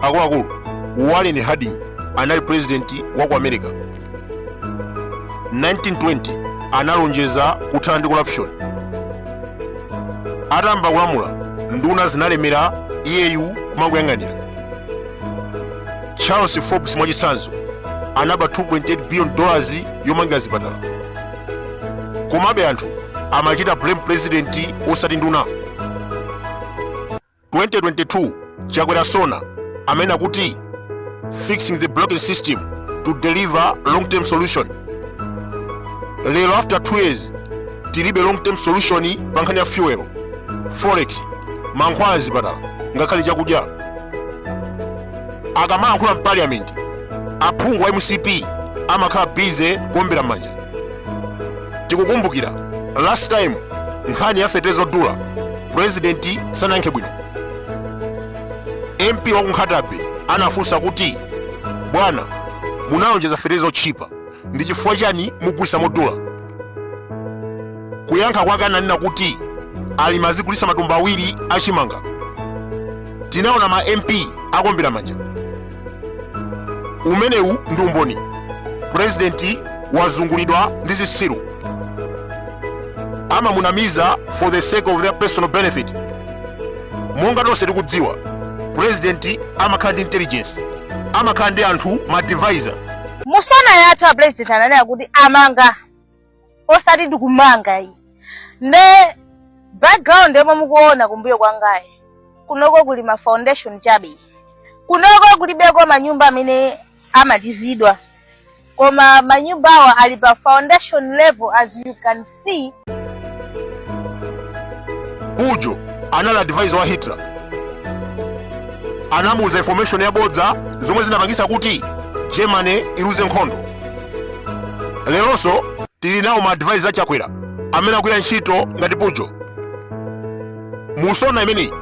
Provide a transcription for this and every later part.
akuluakulu warren harding anali purezidenti wa ku america 1920 analonjeza kuthana ndi corruption atayamba kulamula nduna zimalemera iyeyu kumangoyang'anira charles forbes mwachitsanzo anaba 2.8 billion dollars yomangira zipatala komabe anthu amachita blame president osati nduna 2022 chakwera sona amanena kuti fixing the broken system to deliver long term solution lero after 2 years tilibe long term solution pa nkhani ya fuel forex mankhwala mzipatala ngakhale chakudya akamayankhula mpaliyamenti aphungu a mcp amakhala bize kuombera m'manja tikukumbukira last time nkhani ya feteleza odula purezidenti sanayankhe bwino mp wa ku nkhata bay anafunsa kuti bwana munalonjeza feteleza otchipa ndi chifukwa chani mukugulitsa modula kuyankha kwake ananena kuti alimi azigulisa matumba awiri achimanga tinaona ma mp akuombera manja umenewu ndi umboni purezidenti wazungulidwa ndi zitsiru amamunamiza for the sake of their personal benefit monga tonse tikudziwa purezidenti amakhala ndi intelligence amakhala ndi anthu ma advisor mu sona yathu a president ananena kuti amanga osati tikumanga ayi nde background yomwe mukuona kumbuyo kwangayi kunoko kuli ma foundation chabe kunoko kulibeko manyumba amene amalizidwa koma manyumbawa ali pa foundation level as you can see pujol anali advisor wa hitler anamuuza information yabodza zomwe zinapangisa kuti germany iluze nkhondo leronso tili nawo ma advisor a chakwera amene akugwira ntchito ngati pujol mu sona imeneyi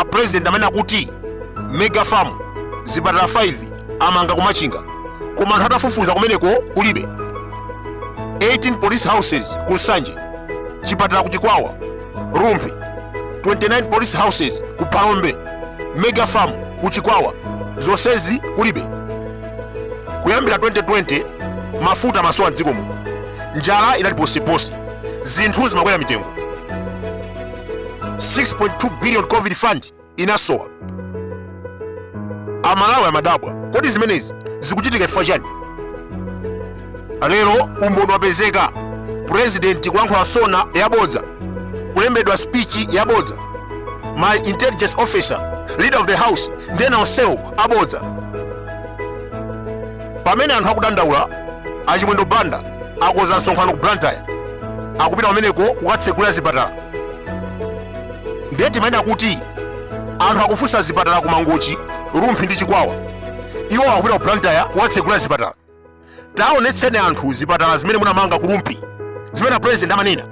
a president amanena kuti mega farm zipatala 5 amanga kumachinga koma anthu atafufuza kumeneko kulibe 18 police houses ku nsanje chipatala ku chikwawa rumphi 29 police houses ku phalombe mega farm ku chikwawa zonsezi kulibe kuyambira 2020 mafuta amasowa mdziko muno njala inali poseponse zinthu zimakwera mitengo 6.2 billion covid fund inasowa amalawi amadabwa kodi zimenezi zikuchitika chifukwa chani lero umboni wapezeka purezidenti kulankhula sona yabodza kulembedwa spichi yabodza ma intelligence officer leader of the house ndi ena onsewo abodza pamene anthu akudandaula achimwendo banda akonza msonkhano ku blantyre akupita pameneko kukatsegulira zipatala ndiye timanena kuti anthu akufunsa zipatala ku mangochi rumphi ndi chikwawa iwo akupita ku blantyre kukatsegulira zipatala tawaonetseni anthu zipatala zimene munamanga ku Rumphi zimene a president amanena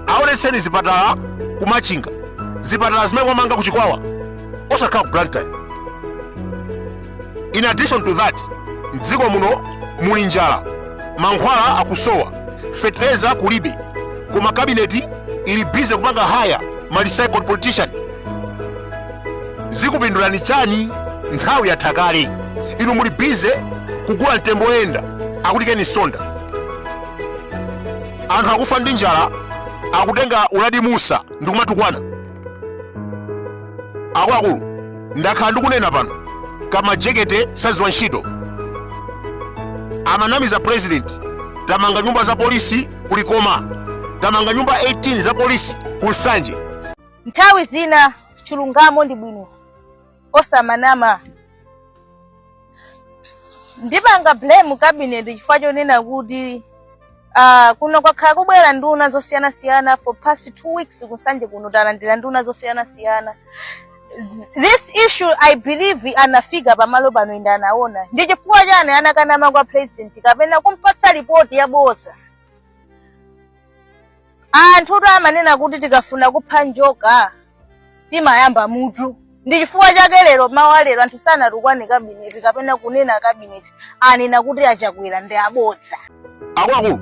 aonetseni zipatala ku Machinga zipatala zimene mwamanga ku Chikwawa osakhala ku Blantyre in addition to that mdziko muno muli njala mankhwala akusowa fetereza kulibe koma kabineti ili bize kupanga haya ma recycled politician zikupindulani chani nthawi yatha kale inu muli bize kugula mtembo woyenda akuti ken msonda anthu akufa ndi njala akutenga uladi musa ndikumatukwana akuluakulu ndakhala ndikunena pano kamajekete saziwa ntchito amanamiza president tamanga nyumba za polisi ku likoma tamanga nyumba 18 za polisi ku nsanje Nthawi zina chilungamo ndi bwino osamanama. Ndipanga blame cabinet chifukwa chonena kuti ah, kuno kwakhala kubwera nduna zosiyanasiyana for past two weeks ku nsanje kuno talandira nduna zosiyanasiyana this issue i believe anafika pamalo pano ende anaona ndi chifukwa chani anakanama kwa president kapena kumpatsa ripoti yabodza Anthutu amanena kuti tikafuna kupha njoka timayamba mutu. Ndi chifukwa chake lero mawu a lero anthu sanatukwane kabineti kapena kunena kabineti anena kuti a chakwera ndi abodza. akuluakulu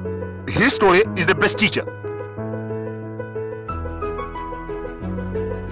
history is the best teacher